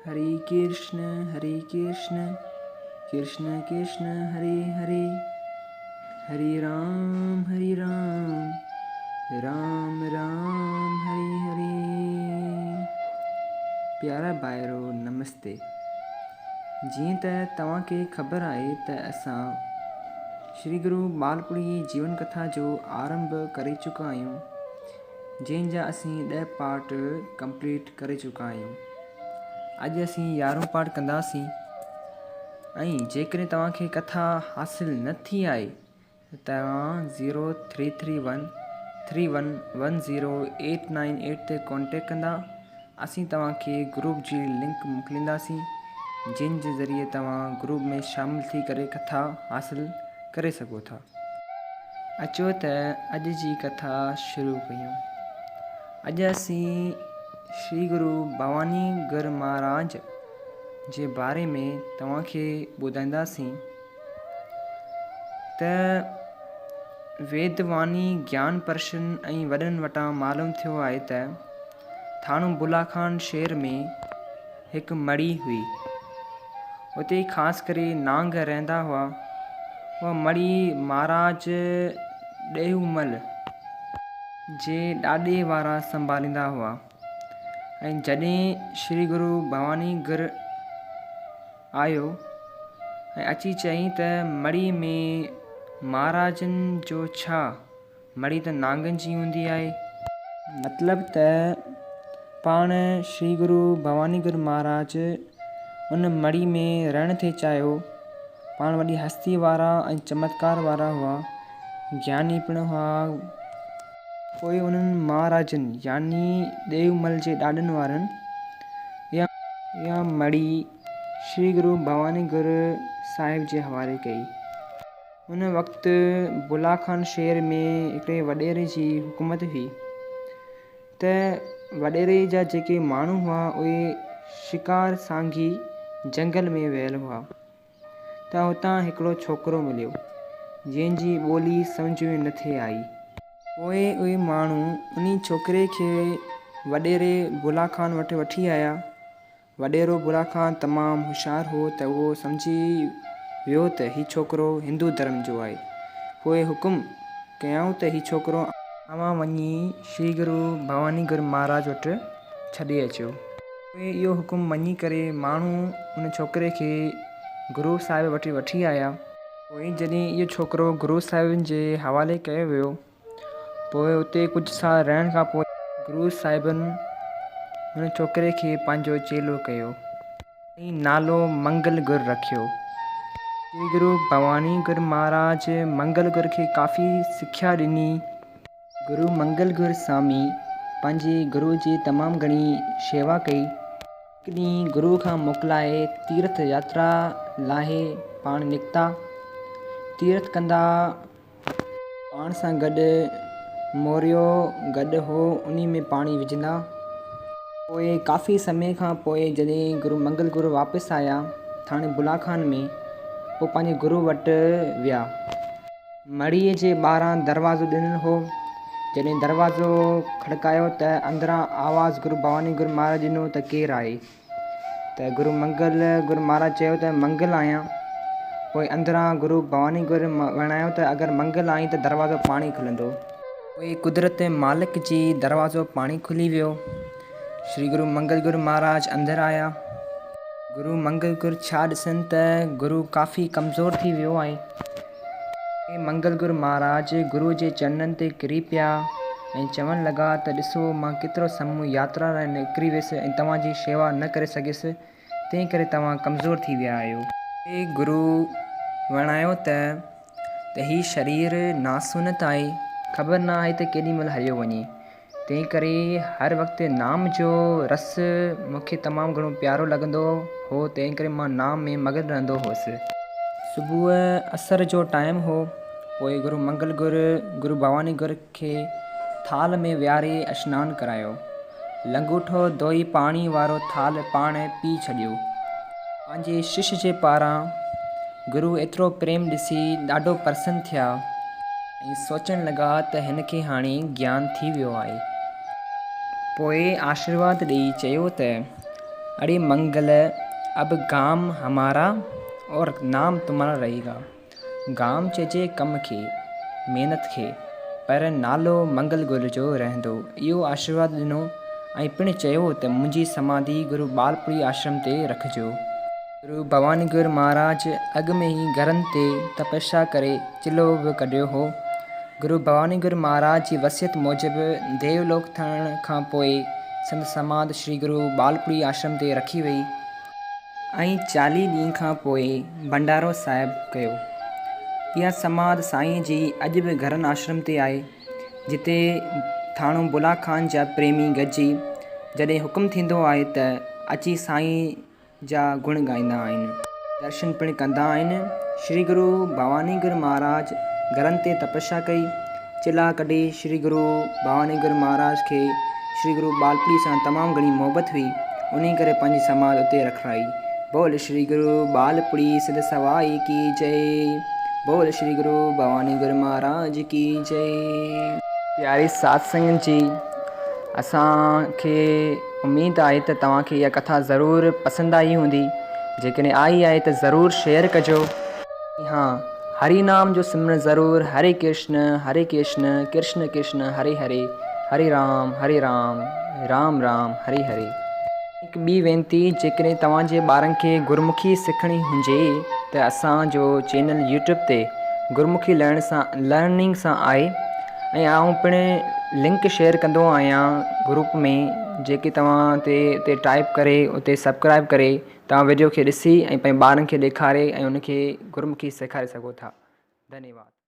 هري ڪرشن هري ڪرشن ڪرشن ڪرشن هري هري هري رام هري رام رام رام هري هري پيارا ڀائرو نمستي جيئن ته توهان کي خبر آهي ته اسان شري گرو ٻالپڙي جيون ڪٿا جو آرنڀ ڪري چڪا آهيون جنهن جا اسين ڏهه پارٽ ڪمپليٽ ڪري چڪا آهيون اڄ اسين يارهون پارٽ ڪنداسين ۽ جيڪڏهن توهان کي ڪٿا حاصل نه ٿي آهي ته توهان zero three three one three one one zero eight nine eight تي ڪانٽيڪٽ ڪندا اسين توهان کي گروپ جي لنڪ موڪلينداسين جنهن جي ذريعي توهان گروپ ۾ شامل ٿي ڪري ڪٿا حاصل ڪري سگهو ٿا. اچو ته اڄ جي ڪٿا شروع ڪيون. اڄ اسين شري گرو ڀواني گر مهاراج جي باري ۾ توهان کي ٻڌائينداسين ته ويد واني گيان پرشن ۽ وڏن وٽان معلوم ٿيو آهي ته ٿاڻو بلاخان شهر ۾ هڪ مڙهي هئي. اتي خاص ڪري نانگ رهندا هئا. اها مڙهي مهاراج ڏيهومل جي ڏاڏي وارا سنڀاليندا هئا ۽ جڏهن شري گرو ڀواني گر آيو ۽ اچي چيائين ته مڙهي ۾ مهاراجن جو ڇا؟ مڙئي ته نانگن جي هوندي آهي. مطلب ته پاڻ شري گرو ڀواني گر مهاراج ان مڙئي ۾ رهڻ ٿي چاهيو. پاڻ وڏي هستي وارا ۽ چمتڪار وارا هئا. گياني پڻ هئا. پوء انهن مهاراجن يعني ڏيومل جي ڏاڏن وارن اها مڙئي شري گرو ڀواني گر صاحب جي حوالي ڪئي. ان وقت بلا خان شهر ۾ هڪڙي وڏيري جي حڪومت هئي ته وڏيري جا جيڪي ماڻهو هئا اهي شڪار سانگي جهنگل ۾ ويل هئا ته هتان هڪڙو ڇوڪرو مليو جنهن جي ٻولي سمجهه ۾ نه ٿي آئي پوء اهي ماڻهو انهي ڇوڪري کي وڏيري بلا خان وٽ وٺي آيا وڏيرو برا خان تمام هوشيار هو ته اهو سمجهي ويو ته هي ڇوڪرو هندو ڌرم جو آهي. پوء حڪم ڪيائون ته هي ڇوڪرو. اوهان وڃي شري گرو ڀواني گر مهاراج وٽ ڇڏي اچو. پوء اهو حڪم مڃي ڪري ماڻهو ان ڇوڪري کي گرو صاحب وٽ وٺي آيا. پوء جڏهن اهو ڇوڪرو گرو صاحبن جي حوالي ڪيو ويو. پوء اتي ڪجهه سال رهڻ کان پوء گرو صاحبن هن ڇوڪري کي پنهنجو چيلو ڪيو ۽ نالو منگل گر رکيو. جي گرو ڀواني گر مهاراج منگل گر کي ڪافي سکيا ڏني. گرو منگل گر سامي پنهنجي گرو جي تمام گهڻي شيوا ڪئي. هڪ ڏينهن گرو کان موڪلائي تيرٿ ياترا لاهي پاڻ نڪتا. تيرٿ ڪندا پاڻ سان گڏ موريو گڏهه هو، انهي ۾ پاڻي وجهندا. پوء ڪافي سمي کان پوء جڏهن گرو منگل گرو واپس آيا ٿاڻي بلا خان ۾، پوء پنهنجي گرو وٽ ويا. مڙهيء جي ٻاهران دروازو ڏنل هو، جڏهن دروازو کڙڪايو ته اندران آواز گرو ڀواني گرو مهاراج ڏنو ته ڪير آهي؟ ته گرو منگل گرو مھاراج چيو ته منگل آھيان. پوء اندران گرو ڀواني گرو وڻايو ته اگر منگل آھين ته دروازو پاڻھي کلندو. پوء قدرت مالڪ جي دروازو پاڻھي کلي ويو. شري گرو منگل گرو مھاراج اندر آيا. گرو منگل گرو ڇا ڏسن ته گرو ڪافي ڪمزور ٿي ويو آھي. اهي منگل گرو مهاراج گرو جي چرنن تي ڪري پيا ۽ چوڻ لڳا ته ڏسو مان ڪيترو سمون ياترا لاء نڪري ويس ۽ توهان جي شيوا نه ڪري سگهيس، تنهن ڪري توهان ڪمزور ٿي ويا آهيو. اهي گرو وڻايو ته ته هي شرير ناسونت آهي، خبر نه آهي ته ڪيڏي مهل هليو وڃي. تنهن ڪري هر وقت نام جو رس مون کي تمام گهڻو پيارو لڳندو هو تنهن ڪري مان نام ۾ مگن رهندو هوس. صبح اسر جو ٽائيم هو پوء گرو منگل گر گرو ڀواني گر کي ٿالهه ۾ ويهاري اشنان ڪرايو لنگوٽو ڌوئي پاڻي وارو ٿالهه پاڻ پي ڇڏيو پنهنجي شش جي پاران گرو ايترو پريم ڏسي ڏاڍو پرسن ٿيا. ائين سوچڻ لڳا ته هن کي هاڻي گيان ٿي ويو آهي. پوء آشيرواد ڏيئي چيو ته، اڙي منگل، اب گام همارا اور نام تمهارا رهي گا. گام چئجي ڪم کي، محنت کي، پر نالو منگل گل جو رهندو. اهو آشيرواد ڏنو ۽ پڻ چيو ته منهنجي سماڌي گرو ٻالپوڙي آشرم تي رکجو. گرو ڀوانيگر مھاراج اڳ ۾ ئي گھرن تي تپسيا ڪري چلھو به ڪڍيو ھو. گرو ڀوانيگر مھاراج جي وصيت موجب ديو لوڪ ٿيڻ کان پوء سندس سماڌ شري گرو ٻالپڙي آشرم تي رکي وئي ۽ چاليھه ڏينھن کان پوء ڀنڊارو صاحب ڪيو. اھا سماڌ سائين جي اڄ به گھرن آشرم تي آھي، جتي ٿاڻو بلا خان جا پريمي گڏجي جڏھن حڪم ٿيندو آھي ته اچي سائين، جا گڻ ڳائيندا آهن. درشن پڻ ڪندا آهن. شري گرو ڀوانيگر مهاراج گرن تي تپسيا ڪئي. چلها ڪڍي شري گرو ڀوانيگر مهاراج کي شري گرو ٻالپڙي سان تمام گهڻي محبت هئي. انهي ڪري پنهنجي سماڌ اتي رکرائي. بول شري گرو ٻالپڙي سڌ سوائي ڪي جئي بول شري گرو ڀوانيگر مهاراج ڪي جئي. پياري ساڌ سنگت جي اسان کي. اميد آهي ته توهان کي اها ڪٿا ضرور پسند آئي هوندي، جيڪڏهن آئي آهي ته ضرور شيئر ڪجو ۽ ها هري نام جو سمرڻ ضرور هري ڪرشن هري ڪرشن ڪرشن ڪرشن هري هري هري رام هري رام رام رام هري هري. هڪ ٻي وينتي جيڪڏهن توهان جي ٻارن کي گرمکي سکڻي هجي ته اسان جو چينل يوٽيوب تي گرمکي لرننگ سان آهي ۽ آئون پڻ لنڪ شيئر ڪندو آهيان گروپ ۾ جيڪي توهان تي تي ٽائپ ڪري اتي سبڪرائب ڪري توهان وڊيو کي ڏسي ۽ پنهنجي ٻارن کي ڏيکاري ۽ ان کي گرمکي سيکاري سگهو ٿا ڌنيواد